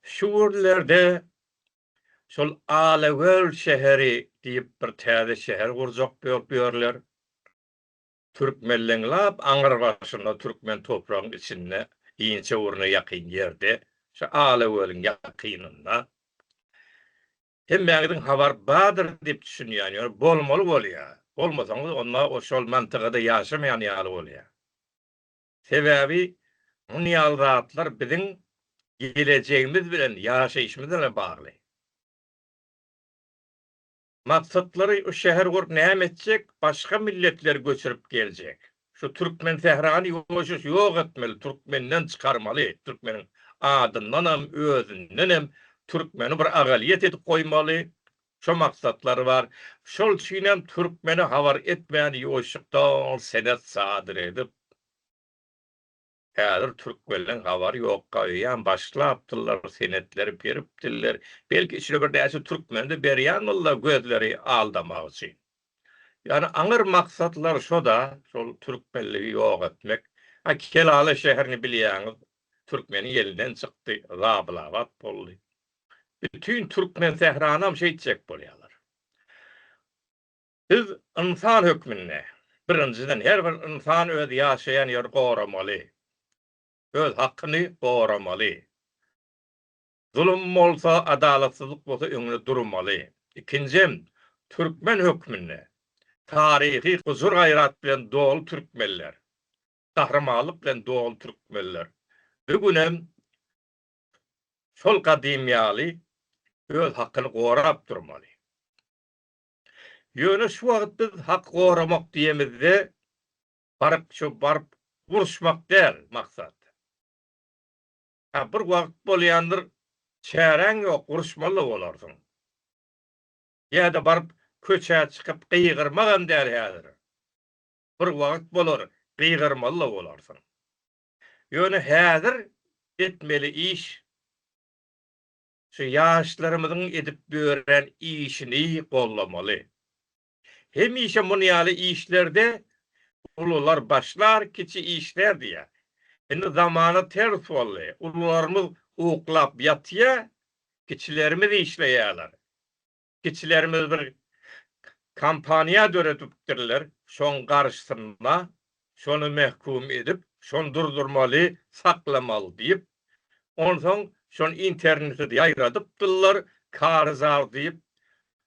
Şu günlerde şol Alagöl şäheri diýip bir täze şäher gurjak bolup ýörler. Türkmenleň lap aňyr başynda türkmen topragyň içinde inçe burna ýakyn ýerde şu Alagölüň ýakynynda. Hemmäňiziň habar bardyr diýip düşünýän ýöne bolmaly bolýar. Bolmasaňyz onda şol mantygada ýaşamaýan ýaly bolýar. Sebäbi muny ýaly zatlar biziň gelejegimiz bilen, ýaşaýşymyz bilen bagly. Maksatlary u şäher gurup näme etjek, başga milletleri göçürip geljek. Şu türkmen sährany ýoşuş ýok etmeli, türkmenden çykarmaly, türkmeniň adyndanam, özündenem türkmeni bir agalyýet edip goýmaly, Şo maksatlary bar. Şol üçinem türkmene habar etmän ýoýşukdan senet sadyr edip, häzir türkmenleň habary ýok gaýýam başlapdyrlar senetleri beripdirler. Belki içine birnäçe türkmeni-de berýändirler gözleri aldamak üçin. Ýagny aňyr maksatlary şo-da, şol türkmenligi ýok etmek. Ha Kelala şäherini bilýäňiz, türkmeniň elinden çykdy, zabulabat boldy. Bütin türkmen sähranam şeýtjek bolýarlar. Biz ynsan hökmünde, birinjiden, her bir ynsan öz ýaşaýan ýerini goramaly. Öz hakyny goramaly. Zulum bolsa, adalatsyzlyk bolsa öňüne durmaly. Ikinjem, türkmen hökmünde, taryhy gujur-gaýrat bilen doly türkmenler, gahrymanlyk bilen doly türkmenler bu günem şol gadym ýaly öz hakyny gorap durmaly. Ýöne şu wagt biz haky goramak diýemizde baryp şu baryp uruşmak däl maksat. Hä bir wagt bolýandyr çäräň ýok uruşmaly-da bolarsyň. Ýa-da baryp köçä çykyp gygyrmagam däl häzir. Bir wagt bolar gygyrmaly-da bolarsyň. Ýöne häzir etmeli iş şu ýaşlarymyzyň edip ýören işini gollamaly. Hemişe muny ýaly işlerde ulular başlar, kiçi işlär diýýär. Indi zamana ters boldy. Ulularymyz uklap ýatýar, kiçilerimiz işleýärler. Kiçilerimiz bir kompaniýa döredipdirler, şoň garyşsynma, şony mähkum edip, şony durdurmaly, saklamaly diýip, onsoň şony internete ýaýradypdyrlar, karyzar diýip,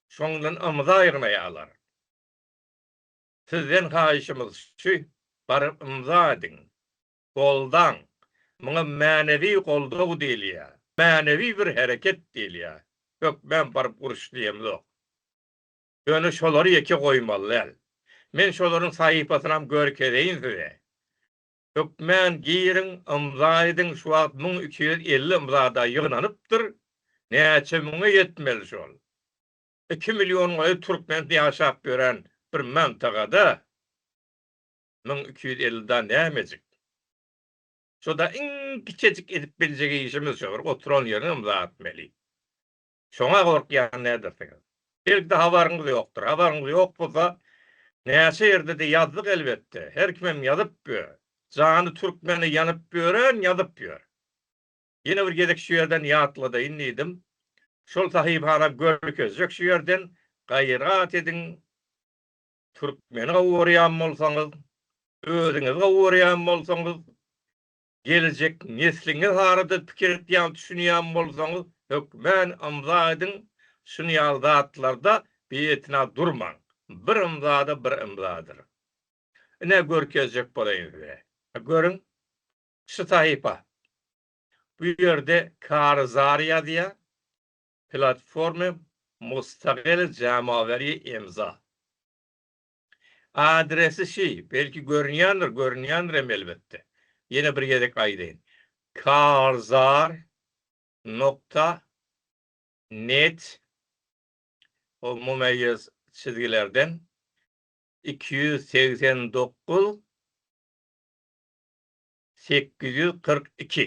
şondan ymza ýygnaýarlar. Sizden haýyşymyz şu, baryp ymza ediň. goldaň. Muňa mänewi goldaw diýilýär. Mänewi bir hereket diýilýär. Hökmän baryp uruş diýemzok. Ýöne şolary ýeke goýmaly däl. Men şolaryň sahypasynam görkezeýin size. Hökmän giriň, ymza ediň, şu wagt müň iki ýüz elli ymzada ýygnanypdyr. Näçe müňe ýetmeli şol? Iki million gaýa türkmen ýaşap ýören bir mantagada. Müň iki ýüz elli da nämejik. Şo-da iň kiçejik edip biljek işimiz şo, bir oturan ýeriňem zatmeli. Şoň-a gorkýan nädersiňiz? Belki-de habaryňyz ýokdur. Habaryňyz ýok bolsa, näçe ýerde-de ýazdyk elbetde. Her kimem ýazyp ýör. Jany türkmene ýanyp ýören ýazyp ýör. Ýene bir gezek şu ýerden ýatladaýyn diýdim. Şol sahypana görkezjek şu ýerden, gaýrat ediň. Türkmeni gowy görýän bolsaňyz, özüňizi gowy görýän bolsaňyz, geljek nesliňiz barada pikir etýän, düşünýän bolsaňyz, hökmän ymza ediň, şuny ýaly zatlarda bietina durmaň. Bir ymza-da bir ymzadyr. Ine, görkezjek bolaýyn size. Görüň, şu sahypa. Bu ýerde karyzar ýazýar. platforma mustagil jamawerýe imza. Adresi şi, belki görünýändir, görünýändirem elbetde. Ýene bir gezek aýdaýyn. Karzar nokta net ol mumeýýez çizgilerden iki ýüz segsen dokuz sekiz ýüz kyrk iki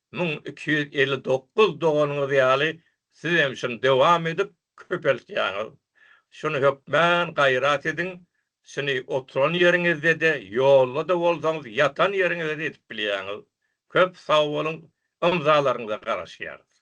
müň iki ýüz elli dokuz doganyňyz ýaly siz hem şuny dowam edip köpeltýäňiz. Şuny hökmän gaýrat ediň, şuny oturan ýeriňizde-de, ýolda-da bolsaňyz, ýatan ýeriňizde-de edip bilýäňiz. Köp sag boluň, ymzalaryňyza garaşýarys.